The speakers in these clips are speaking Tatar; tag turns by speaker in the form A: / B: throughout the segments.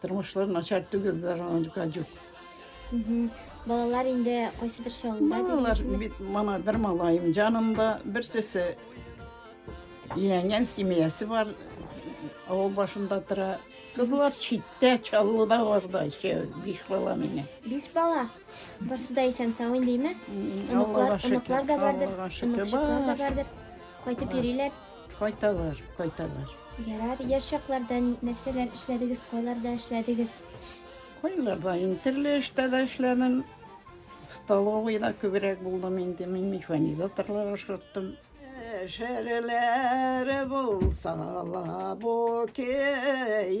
A: Тормышлар начар түгел, заранка җук.
B: Балалар инде кайсыдыр чагында Балалар дигәнсезме? бит
A: мана бер малаем җанымда, берсесе өйләнгән семьясы бар, авыл башында тора. Кызлар читтә, Чаллыда барда, еще биш бала менә. Биш бала.
B: Барсы да исән сау индеме? М, Оныклар,
A: Аллага
B: шөкер, оныклар да бардыр. Аллага
A: шөкер, Оныкчыклар
B: да бар. бардыр. Кайтып йөриләр. Кайталар,
A: кайталар.
B: Ярар, яшь чакларда нәрсәләр эшләдегез, кайларда эшләдегез? Кайларда
A: инде төрле эштә дә эшләдем. Столовыйда күбрәк булдым инде, мин механизаторлар ашырттым. Шәрләр булса ла бу кәебез,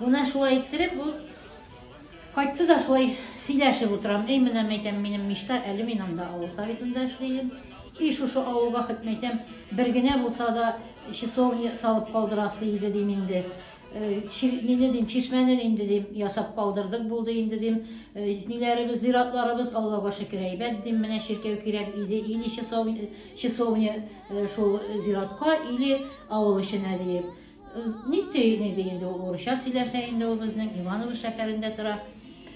C: Менә шулай иттереп ул кайтты да шулай сөйләшеп утырам. Эй, менә мәйтәм, минем мечта, әле мин анда авыл советында эшләйдем. И шушы авылга хет мәйтәм, бер генә булса да часовня салып калдырасы иде дим инде. Э, Нине дим, чишмәне инде дим, ясап калдырдык булды инде дим. Э, ниләребез, зиратларыбыз Аллага шөкер әйбәт дим. Менә чиркәү кирәк иде, или часовня, часовня э, шул зиратка, или авыл эченә диеп. Ник ти, ник ти, инде ул урысча сөйләшә инде ул безнең, Иваново шәһәрендә тора.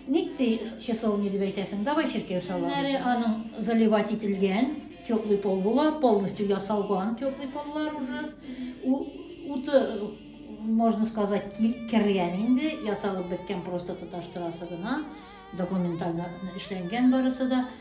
C: Ник ти, часов не дип әйтәсең, давай чиркәү салам. Нәре аның заливать ителгән, теплый пол була, полностью ясалган теплый поллар уже. У, уты, можно сказать, кергән инде, ясалып беткән просто тоташтырасы гына, документально эшләнгән барысы да.